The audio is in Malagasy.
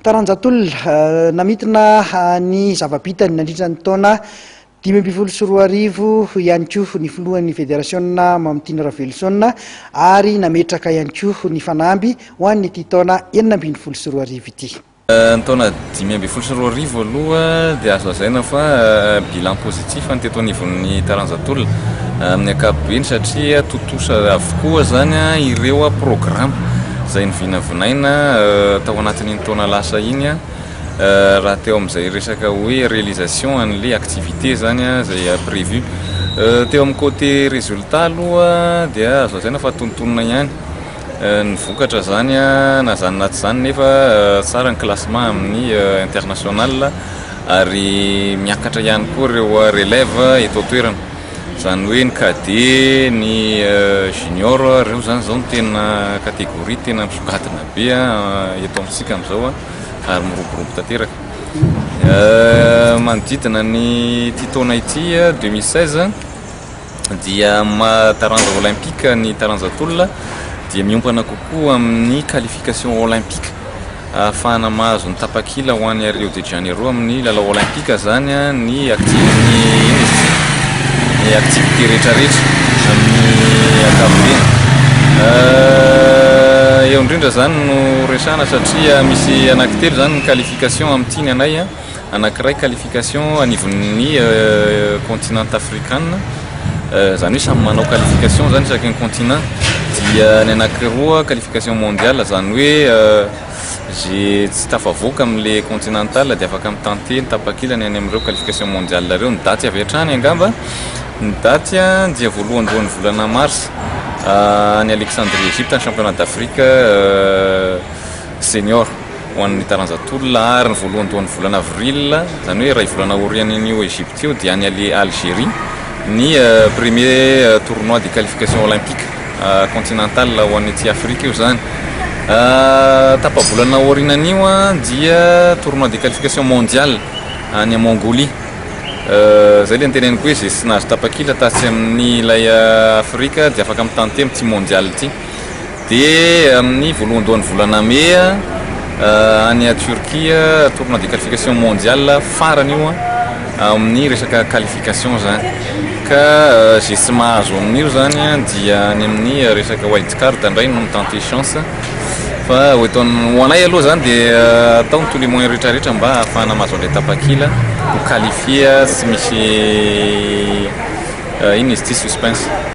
Taranja tolona, namintina ny zava-bitany nandritra ny taona dimy ambin'ny folo sy roa arivo ihany koa ny filohan'ny federasiona Mamitiana Raveloson ary nametraka ihany koa ny fanamby ho an'ity taona enina ambin'ny folo sy roa arivo ity. Ny taona dimy ambin'ny folo sy roa arivo aloha dia azo lazaina fa bilan positif. Tsy hifany teto anivon'ny taranja tolona amin'ny ankapobeny satria tontosa avokoa izany ireo programa izay novinavinaina tao anatin'iny taona lasa iny raha teo amin'izay resaka hoe réalisation an'ilay activité izany izay prévu. Teo amin'ny côté résultat aloha dia azo lazaina fa tontonina ihany. Ny vokatra izany na izany na tsy izany nefa tsara ny classement amin'ny international ary miakatra ihany koa ireo relèves eto an-toerana. Izany hoe ny cadet, ny junior, ireo izany izao no tena catégorie tena misongadina be eto amintsika amin'izao ary miroborobo tanteraka. Manodidina an'ity taona ity, deux mille seize, dia amin'ny maha taranja olaimpika ny taranja tolona dia miompana kokoa amin'ny qualification olaimpika ahafahana mahazo ny tapakila ho any Rio de Janeiro amin'ny lalao olaimpika izany ny ny activité rehetrarehetra amin'ny ankapobeny eo indrindra izany no resahana satria misy anaky telo izany ny qualification amin'ny tiany anay anankiray qualification anivon'ny continent afrikana, izany hoe samy manao qualification izany isaky ny continent, dia ny anankiroa qualification mondiale izany hoe ze tsy tafavoaka amin'ilay continental dia afaka mi-tenter ny tapakilany any amin'ireo qualification mondiale ireo, ny daty avy hatrany angamba, ny daty dia voalohandohan'ny volana mars any Alexandrie Egypte ny championnat d'Afrique. Senior, ho an'ny taranja tolona ary ny voalohandohan'ny volana avril, izany hoe iray volana aorian'io Egypte io dia any Algerie ny premier tournoi de qualification olympique continentale ho an'ny aty Afrika io izany tapa-bolana aorianan'io dia tournoi de qualification mondial any Mongolie izay ilay niteneniko hoe izay tsy nahazo tapakila tatsy amin'ny ilay Afrika dia afaka mitantemo ity mondial ity Dia amin'ny voalohandohan'ny volana Mey any Turquie tournoi de qualification mondial farany io amin'ny resaka qualification zany ka ze tsy mahazo amin'io zany dia any amin'ny resaka wild card indray no mi-tenter chance fa eto amin'ny ho anay aloha zany dia atao ny tous les moyens rehetra rehetra mba hahafahana mahazo an'ilay tapakila ho qualifier tsy misy inona izy ity suspense.